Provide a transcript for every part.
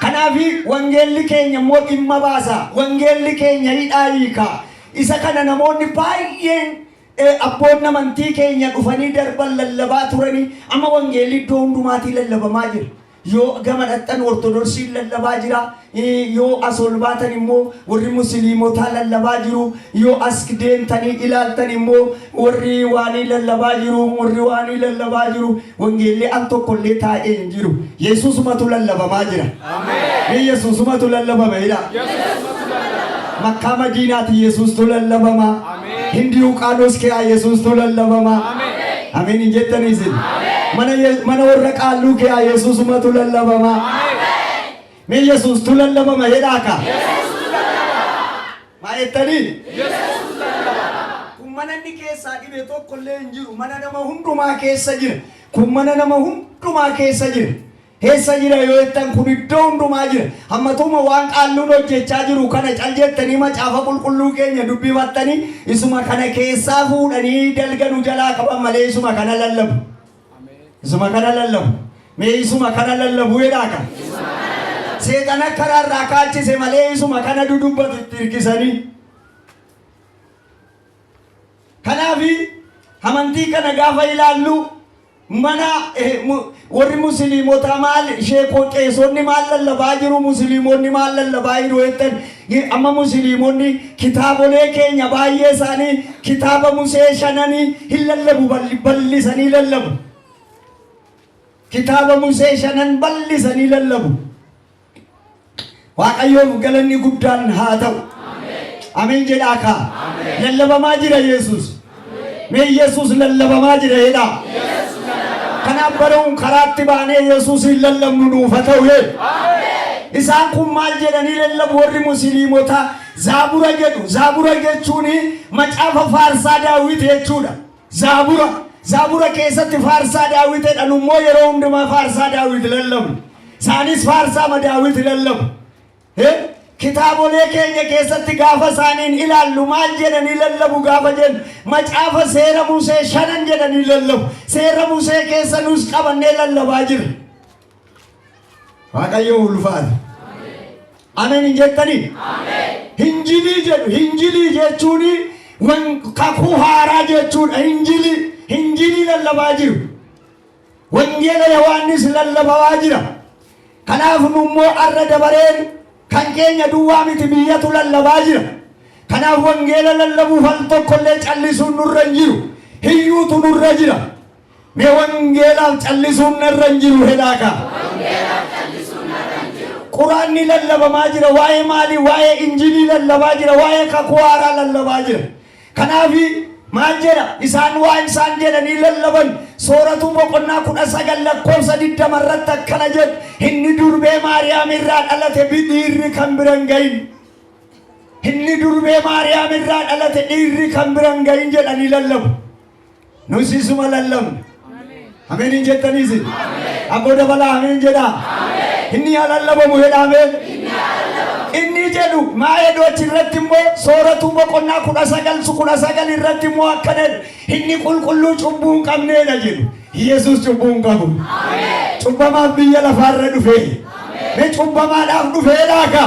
Kanaafi wangeelli keenya immoo dhimma baasa. Wangeelli keenya hidhaa hiika. Isa kana namoonni baay'een eh, abboonni amantii keenya dhufanii darban lallabaa turanii amma wangeelli iddoo hundumaatii lallabamaa jira. Yoo gama dhaqxan ortodoksiin lallabaa jira. Eh, Yoo as ol baatan immoo warri musliimotaa lallabaa jiru. Yoo as deemtanii ilaaltan immoo warri waanii lallabaa jiru. Warri waanii lallabaa jiru. Wangeelli al tokko illee taa'ee hin jiru. Yesuusumatu lallabamaa jira. Mee Yesuusumatu lallabama jedhaa. Makkaa Madiinaati Yesuustu lallabama. Hindii Uqaanos keeyaa Yesuustu lallabama. Ameen hin jettanii isin. Mana Ye- mana warra qaalluu keeyaa Yesuusumatu lallabama. Mee yesuus tu lallabama jedhaa kaa. Maa jettanii? Kun mana inni keessaa dhibe tokko illee hin jiru. Mana nama hundumaa keessa jira. Kun mana nama hundumaa keessa jira. Keessa jira yoo jettan kun iddoo hundumaa jira. Hammatuma waan qaalluun hojjechaa jiru kana cal jettanii macaafa qulqulluu keenya dubbifattanii isuma kana keessaa fuudhanii dalga nu jalaa qaban malee isuma kana lallabu. Isuma kana lallabu. Mee isuma kana lallabu jedhaa kan. Seexana karaa irraa kaachise malee isuma kana dudubbatu itti hirkisanii. Kanaaf amantii kana gaafa ilaallu mana eh, mu- warri musliimotaa maal sheekoo qeesonni maal lallabaa jiru musliimonni maal lallabaa jiru jettan G. Amma Musiliimonni kitaabolee keenya baay'ee isaanii kitaaba Musee shananii hin lallabu bal'isanii lallabu. Kitaaba Musee shanan bal'isanii lallabu. Waaqayyoof galanni guddaan haa ta'u. Ameen jedhaa kaa. Lallabamaa jira Yesuus. Mee Yesuus lallabamaa jira jedhaa. Kanaaf baruun karaatti baanee Yesuusiin lallabnu nuuf haa ta'u jee. Isaan kun maal jedhanii lallabu warri musliimotaa zaabura jedhu. Zaabura jechuun macaafa faarsaa daawwiti jechuudha. Zaabura zaabura keessatti faarsaa daawwitedha. Nummoo yeroo hundumaa faarsaa daawwiti lallabnu. Isaanis faarsaa ma daawwiti lallabu. He, kitaabolee keenya keessatti gaafa isaaniin ilaallu maal jedhanii lallabu gaafa jennu macaafa seera Musee shanan jedhanii lallabu. Seera Musee keessa nus qabannee lallabaa jirra. Waaqayyo ulfaata. Ameen hin jettanii? Hinjilii jedhu. Hinjilii jechuun wan- kakuu haaraa jechuudha. Hinjilii hinjilii lallabaa jiru. Wangeela Yohaannis lallabawaa jira. Kanaaf nu immoo arra dabareen kan keenya duwwaa miti biyyatu lallabaa jira. Kanaaf wangeela lallabuuf al tokko illee callisuun nurra hin jiru. Hiyyuutu nurra jira. Mee wangeelaaf callisuun narra hin jiru hedhaa kaa. Quraanni lallabamaa jira. Waa'ee maalii? Waa'ee injilii lallabaa jira. Waa'ee kakuu haaraa lallabaa jira. Kanaaf maal jedha? Isaan waan isaan jedhanii lallaban Sooratuu boqonnaa 19 lakkoofsa 20 irratti akkana jedhu, Inni durbee Maariyaam irraa dhalate bi- dhiirri kan bira hin gahin. Inni durbee Maariyaam irraa dhalate dhiirri kan bira hin gahin jedhanii lallabu. Nus isuma lallabna. Ameen hin jettaniis. Abboo dabalaa ameen jedhaa. Inni haa lallabamu jedhaame. Inni jedhu maa'eedoo achirratti immoo sooratuu boqonnaa kudha sagal su kudha sagal irratti immoo akka jedhu inni qulqulluu cubbuu hin qabneedha jedhu. Yesuus cubbuu hin qabu. Cubbamaaf biyya lafaarra dhufee. Mee cubbamaadhaaf dhufee laaka.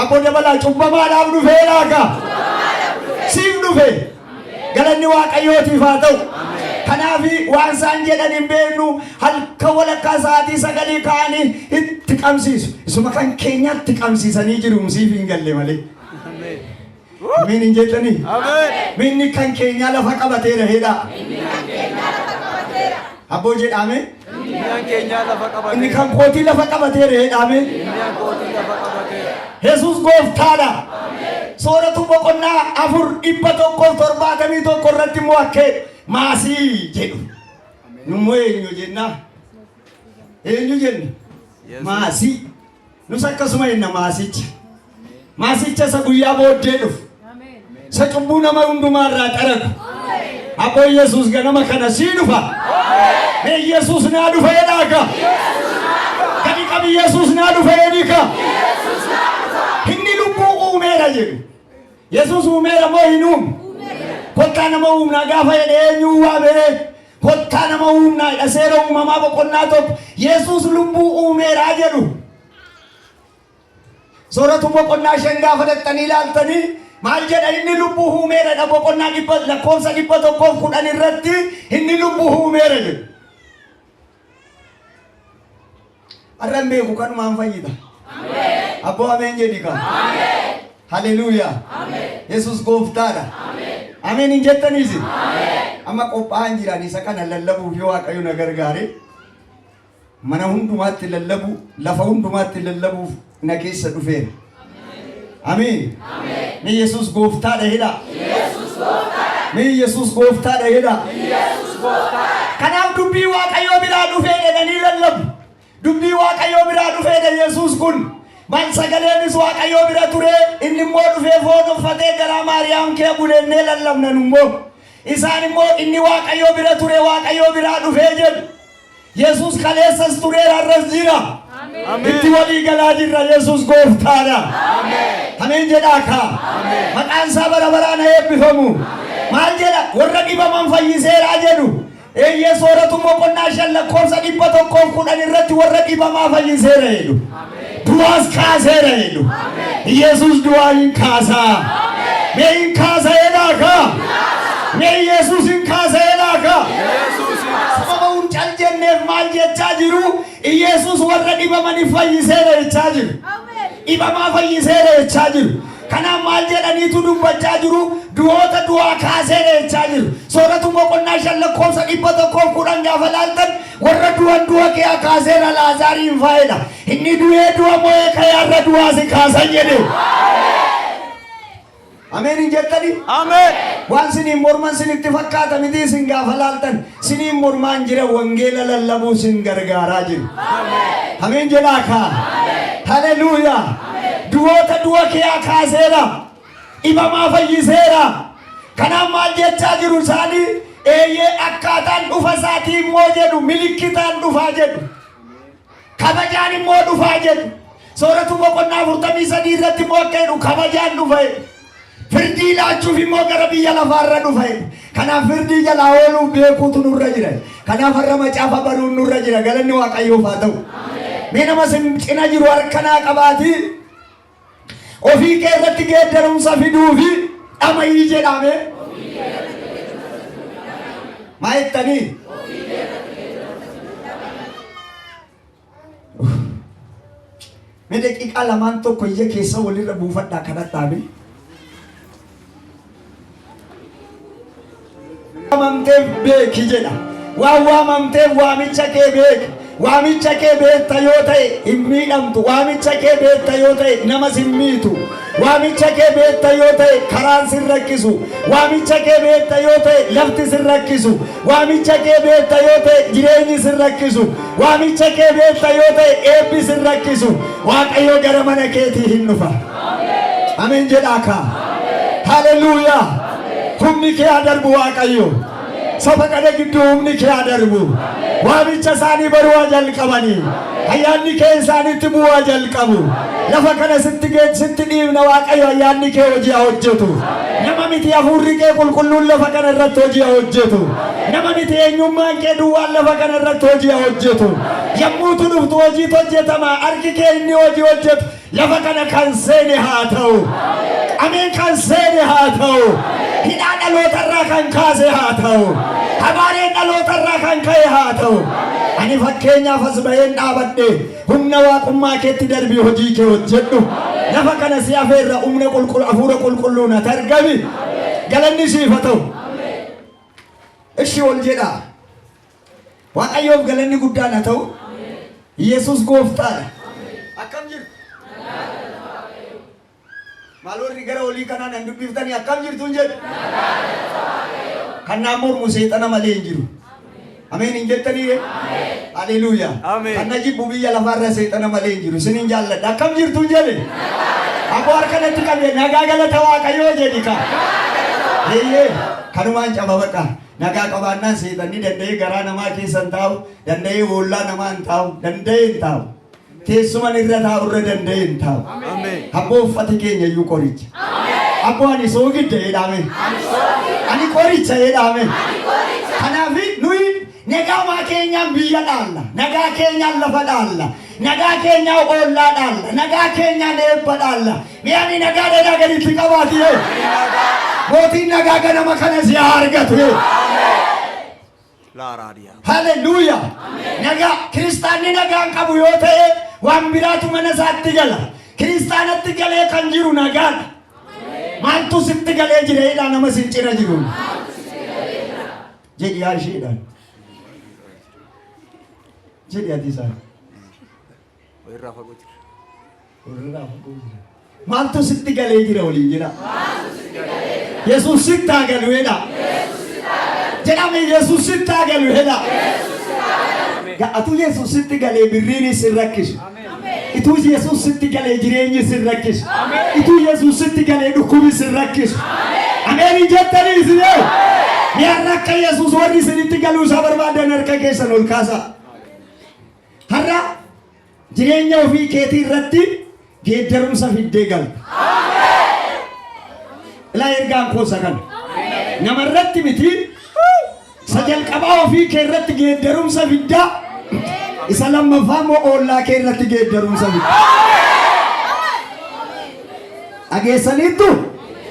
Abboo dabalaa cubbamaadhaaf dhufee laaka. Siif dhufee. Galanni Waaqayyootiif haa ta'u. Kanaaf waan isaan jedhan hin beeknu halkan walakkaa sa'aatii sagalii ka'anii itti qabsiisu. Isuma kan keenyaatti qabsiisanii jiru musiif hin galle malee. Miin hin jettanii? Miinni kan keenyaa lafa qabateera heedhaa. Habboo jedhaame. Diinaan keenyaa lafa Inni qabateera. kan kootii lafa qabateera jedhaame. Diinaan kootii lafa qabateera. Yesuus gooftaadha. Sooratuu boqonnaa afur dhibba tokkoof torbaatamii tokko irratti immoo akkee maasii jedhu. Nummoo eenyu jenna? Eenyu jenna? Yesuus. Maasii. Nus akkasuma jenna maasicha. Maasicha isa guyyaa booddee dhufu. Isa cubbuu nama hundumaa irraa qaragu. Abboo Yesuus ganama kana sii dhufa. Mee Yesuus naa dhufa jedhaa ka. Gadi qabi Yesuus naa dhufa jedhii ka. Inni lubbuu uumeera jedhu. Yesuus uumeera moo hin uumu? Kottaa nama uumnaa gaafa jedhe eenyuu waamee? Kottaa nama uumnaa jedha seera uumamaa boqonnaa tokko. Yesuus lubbuu uumeeraa jedhu. Sooratu boqonnaa shan gaafa dhaqxanii ilaaltanii maal jedha inni lubbuu uumeera jedha boqonnaa dhibba lakkoofsa dhibba tokkoof kudhan irratti inni lubbuu uumeera jedhu. Arran beeku kanumaan fayyita. Abboo ameen jedhi ka. Haleluuyaa. Yesus gooftaadha. Ameen hin jettaniisi. Amma qophaa'an jiran isa kana lallabuuf yoo Waaqayyo na gargaare mana hundumaatti lallabuu lafa hundumaatti lallabuuf na keessa dhufeera. Ameen. Mee Yesuus gooftaadha jedha. Mee Yesuus gooftaadha jedha. Kanaaf dubbii Waaqayyoo biraa dhufee jedhanii lallabu. Dubbii Waaqayyoo biraa dhufee jedha Yesuus kun. Maal sagaleenis Waaqayyoo bira ture inni immoo dhufee foon uffatee garaa Maariyaam kee buleennee lallabnan immoo. Isaan immoo inni Waaqayyoo bira ture Waaqayyoo biraa dhufee jedhu. Yesus kaleessas tureera arras jira. Itti walii galaa jirra Yesus gooftaadha. Ameen jedhaa kaa. Maqaan isaa bara baraan haa eebbifamu. Maal jedha warra dhibaman fayyiseeraa jedhu. Eeyyee sooratu boqonnaa shan lakkoofsa dhibba tokkoof kudhan irratti warra dhibamaa fayyiseera jedhu. Du'aas kaaseera jedhu. Yesus du'aa hin kaasaa. Mee hin kaasa jedhaa kaa. Mee Yesus hin kaasa jedhaa kaa. Sababa hin cal jenneef maal jechaa jiru? Yesus warra dhibamaniif fayyiseera jechaa jiru. Dhibamaa fayyiseera jechaa jiru. Kanaaf maal jedhaniitu dubbachaa jiru? Du'oota du'aa kaaseera jechaa jiru. Sooratu boqonnaa shan lakkoofsa dhibba tokkoof kudhan gaafa laaltan Worra du'an du'a kea kaaseera Laazaariin faedha. Inni du'ee du'a mo'ee ka'e har'a du'aa si kaasan jedhe. Ameen hin jettani? Ameen. Waan siniin morman sinitti fakkaata miti isin gaafa laaltan siniin mormaan jira wangeela lallabuu sin gargaaraa jiru. Ameen jedhaa kaa. Haleluuyaa. Du'oota du'a kea kaaseera. dhibamaa fayyiseera. Kanaaf maal jechaa jiru isaanii eeyyee akkaataan dhufa isaatii immoo jedhu milikkitaan dhufaa jedhu. Kabajaan immoo dhufaa jedhu. Sooratu boqonnaa afurtamii sadii irratti immoo akka jedhu kabajaan dhufa jedhu. Firdii laachuuf immoo gara biyya lafaarra dhufa jedhu. Kanaaf firdii jalaa ooluuf beekuutu nurra jira. Kanaaf har'a macaafa baruun nurra jira. Galanni Waaqayyoof haa ta'u. Mee nama sin cina jiru harkanaa qabaatii Ofii kee irratti geeddarumsa fiduu fi dhama'ii jedhame. Maa jettanii? Mee daqiiqaa lamaan tokko ija keessa walirra buufadhaa kadhadhaa mee. waamamteef beeki jedha. Waan waamamteef waamicha kee beeki. Waamicha kee beekta yoo ta'e hin miidhamtu. Waamicha kee beekta yoo ta'e namas hin miitu. Waamicha kee beekta yoo ta'e karaan sin rakkisu. Waamicha kee beekta yoo ta'e lafti sin rakkisu. Waamicha kee beekta yoo ta'e jireenyi sin rakkisu. Waamicha kee beekta yoo ta'e eebbi sin rakkisu. Waaqayyo gara mana keetii hin dhufa. Ameen jedhaa kaa. Haleluuyaa. Humni kee haa darbu Waaqayyo. Saba kana gidduu humni kee haa darbu. Waamicha isaanii baruu haa jalqabanii. Ayyaanni kee isaanitti bu'uu haa jalqabu. Lafa kana sitti geet sitti dhiibna Waaqayyo ayyaanni kee hojii haa hojjetu. Nama miti hafuurri kee qulqulluun lafa kana irratti hojii haa hojjetu. Nama miti eenyummaan kee duwwaan lafa kana irratti hojii haa hojjetu. Yommuutu dhuftu hojiitu hojjetama. Harki kee inni hojii hojjetu. Lafa kana kan seene haa ta'u. Ameen kan seene haa ta'u. Hidhaa dhalootarraa kan kaase haa ta'u. Habaareen dhalootarraa kan ka'e haa ta'u. Ani fakkeenyaaf as ba'een dhaabadhe humna waaqummaa keetti darbii hojii kee hojjedhu. Lafa kana si afeerra humna qulqulluu hafuura qulqulluu natti argami. Galanni siif haa ta'u. Ishi wal jedhaa. Waaqayyoof galanni guddaan haa ta'u. Yesuus gooftaadha. Akkam jirtu? Maal warri gara olii kanaa nan dubbiftanii akkam jirtu hin jedhu? Kan naan mormu seexana malee hin jiru. Ameen hin jettanii ree? Haleluuyaa. Ameen. Kan na jibbu biyya lafaarra seexana malee hin jiru. Isin hin jaalladha. Akkam jirtu hin jedhe? Aboo harka natti qabde nagaa galata waaqayyoo jedhi kaa. Eeyyee kanumaan cababadha. Nagaa qabaannaan seexan ni danda'ee garaa namaa keessa hin taa'u, danda'ee boollaa namaa hin taa'u, danda'ee hin taa'u. Teessuman irra taa'u irra danda'ee hin taa'u. Abboo uffati keenya iyyuu qoricha. Abboo ani soogidda jedhame. Ani qoricha jedhame. Kanaaf nuyi nagaa maa keenyaan biyya dhaalla, nagaa keenyaan lafa dhaalla. Nagaa keenyaa oollaa dhaalla. Nagaa keenyaan eebba dhaalla. Mee ani nagaa dhagaa gaditti qabaati hoo? Mootiin nagaa ganama kana si haa argatu hoo? Laaraadiyaa. Haleluuyaa! Nagaa kiristaanni nagaan qabu yoo ta'e waan biraatu mana isaatti gala. Kiristaanatti galee kan jiru nagaadha. Maaltu sitti galee jira jedhaa nama sin cina jiruun. Jedhi yaa isheedhaan. jedhi ati isaan. Walirraa fagoo jira. Walirraa fagoo jira. Maaltu sitti galee jira waliin jedha. Yesuus sitti haa galu jedha. Jedhame Yesuus sitti haa galu jedha. Ga'atu Yesuus sitti galee birriin isin rakkisu. Ituu Yesuus sitti galee jireenyi sin rakkisu. Ituu Yesuus sitti galee dhukkubi sin rakkisu. Ameenii jettanii isin yoo. Mi'arra akka Yesuus warri isinitti galuu isaa barbaadan harka keessan ol kaasaa. Har'a jireenya ofii keetii irratti geeddarumsa fiddee galta. Ilaa ergaan koosa kana. Nama irratti miti Isa jalqabaa ofii kee irratti geeddarumsa fidda. Isa lammaffaa immoo ollaa kee irratti geeddarumsa fidda. Dhageessaniittu?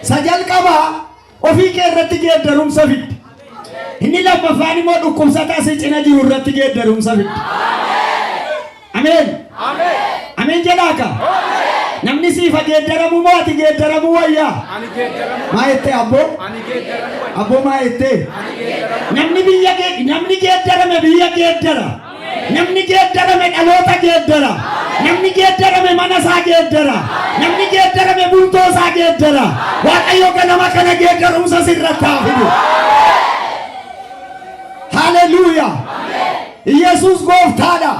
Isa jalqabaa ofii kee irratti geeddarumsa fidda. Inni lammaffaan immoo dhukkubsataa si cina jiru irratti geeddarumsa fidda. Ameen. Ameen jedhaa ka. Namni siif haa geeddaramu moo ati geeddaramuu wayyaa? Maa jettee abboo? Abboo maa jettee? Namni biyya gee- namni geeddarame biyya geeddara. Namni geeddarame dhaloota geeddara. Namni geeddarame mana isaa geeddara. Namni geeddarame bultoo isaa geeddara. Waaqayyo ganama kana geeddarumsa sirratti haa fidu. Haleluuyaa. Iyyasuus gooftaadha.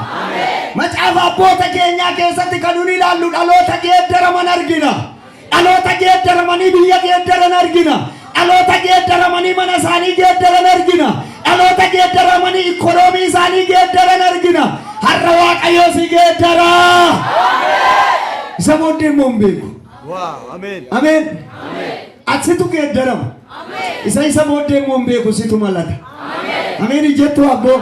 Macaafa abboota keenyaa keessatti kan nun ilaallu dhaloota geeddaraman argina. Dhaloota geeddaramanii biyya geeddaran argina. Dhaloota geeddaramanii mana isaanii geeddaran argina. Dhaloota geeddaramanii ikkonoomii isaanii geeddaran argina. Har'a Waaqayyoo si geeddara. Isa booddee immoo hin beeku. Waaw ameen. Ameen. Atsitu geeddarama. Isa isa booddee immoo hin beeku situ malata. Ameen jettu abboo.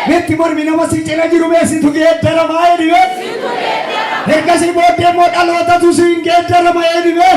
Meetti mormi nama si cina jiru mee situ geeddarama jedhi mee. Ergasii booddee immoo dhalootatu si hin geeddarama jedhi mee.